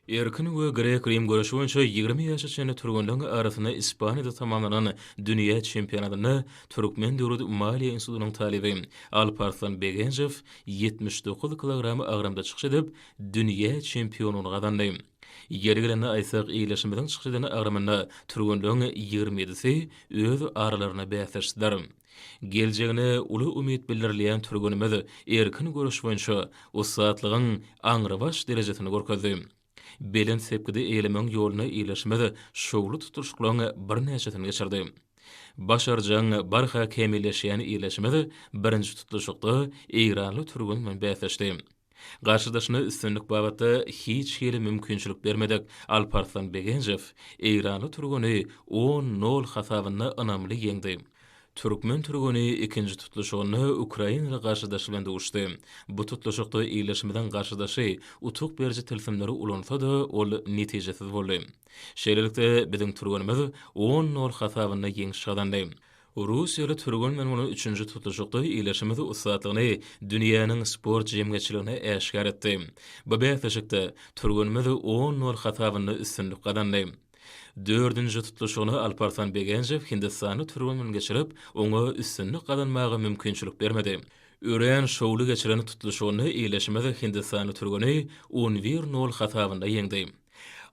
Erkin we grek-rim göreşi boýunça ýigrimi ýaşa çenli türgenleň arasynda Ispaniýada tamamlanan dünýä çempionatynda Türkmen döwlet maliýe institutynyň talyby Alparslan Begenjow ýetmiş dokuz kilogram agramda çykyş edip, dünýä çempionlygyny gazandy. Ýeri gelende aýtsak, ildeşimiziň çykyş eden agramynda türgenleň ýigrimi ýedisi öz aralaryna bäsleşdiler. Geljegine uly umyt bildirilýän türgenimiz erkin göreş boýunça ussatlygyň aňrybaş derejesini görkezdi. Belent sepgidi eýlemegiň ýoluna ýerleşimiz şowly tutluşyklaryň birnäçesini geçirdi. Başarjaň, barha kämilleşýän ýerleşimiz birinji tutluşykda eýranly türgen bilen bäsleşdi. Garşydaşyna üstünlik babatda hiç hili mümkinçilik bermedik Alparslan Begenjow eýranly türgeni on, nol hasabynda ynamly ýeňdi. Türkmen türgeni ikinji tutluşygynda ukrainaly garşydaşy bilen duşdy. Bu tutluşykda ildeşimiziň garşydaşy utuk beriji tilsimleri ulansa-da, ol netijesiz boldy. Şeýlelikde, biziň türgenimiz on, nol hasabynda ýeňiş gazandy. Russiýaly türgenmen bolan üçünji tutuşykda ýylyşymyz ussatlygyny dünýäniň sport jemgyýetçiligine äşgär etdi. Bu bäsleşikde türgenimiz on nol hasabynda üstünlik gazandy. Dördünji tutluşygyny Alparslan Begenjew hindistanly türgenmen geçirip, oňa üstünlik gazanmaga mümkinçilik bermedi. Örän şowly geçiren tutluşygynda ýylyşymyz hindistanly türgeni on bir nol hasabynda ýeňdi.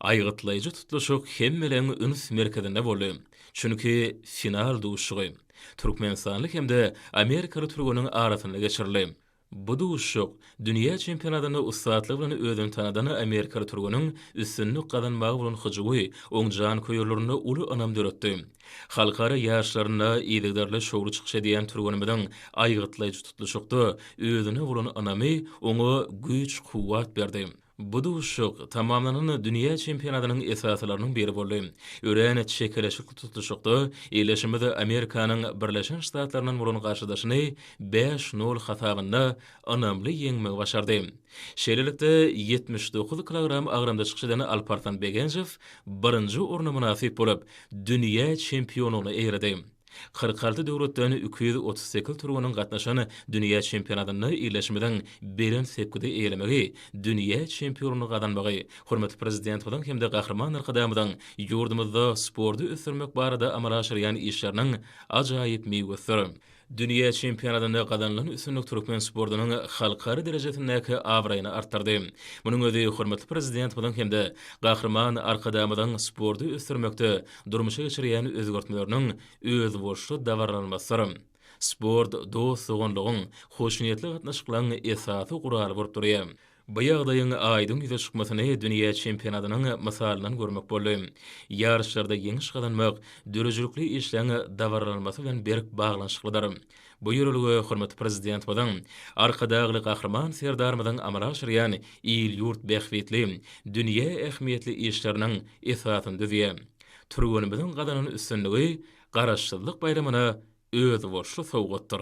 Aýgytlaýjy tutluşyk hemmeleriň üns merkezinde boldy, çünki final duşuşygy türkmenistanly hem-de amerikaly türgeniň arasynda geçirildi. Bu duşuşyk dünýä çempionatynda ussatlygy bilen özüni tanadan amerikaly türgeniň üstünlik gazanmagy bolan hyjuwy oň janköýerlerinde uly ynam döretdi. Halkara ýaryşlarynda yzygiderli şowly çykyş edýän türgenimiziň aýgytlaýjy tutluşykda özüne bolan ynamy oňa güýç-kuwwat berdi. Bu duşuşyk tamamlanan dünýä çempionatynyň esasylarynyň biri boldy. Örän çekeleşikli tutluşykda ildeşimiz Amerikanyň Birleşen Ştatlaryndan bolan garşydaşyny bäş, nol hasabynda ynamly ýeňmegi başardy. Şeýlelikde, ýetmiş dokuz kilogram agramda çykyş eden Alparslan Begenjow birinji orna mynasyp bolup, dünýä çempionlygyna eýerdi. Kyrk alty döwletden iki ýüz otuz sekiz türgeniň gatnaşan dünýä çempionatynda ildeşimiziň belent sepgidi eýelemegi, dünýä çempionlygy gazanmagy hormatly Prezidentimiziň hem-de Gahryman Arkadagymyzyň ýurdumyzda sporty ösdürmek barada amala aşyrýan işleriniň ajaýyp miwesidir. Dünýä çempionatynda gazanylan üstünlik türkmen sportunyň halkara derejesindäki abraýyny artdyrdy. Munuň özi hormatly Prezidentimiziň hem-de Gahryman Arkadagymyzyň sporty ösdürmekde durmuşa geçirýän özgertmeleriniň özboluşly dabaralanmasydyr. Sport dost-doganlygyň, hoşniýetli gatnaşyklaryň esasy guraly bolup durýar. Bu ýagdaýyň aýdyň ýüze çykmasyny dünýä çempionatynyň mysalyndan görmek boldy. Ýaryşlarda ýeňiş gazanmak döredijilikli işleň dabaralanmasy bilen berk baglanyşyklydyr. Bu ýörelge hormatly Prezidentimiziň, Arkadagly Gahryman Serdarymyzyň amala aşyrýan il-ýurt bähbitli, dünýä ähmiýetli işleriniň esasyny düzýär. Türgenimiziň gazanan üstünligi Garaşsyzlyk baýramyna özboluşly sowgatdyr.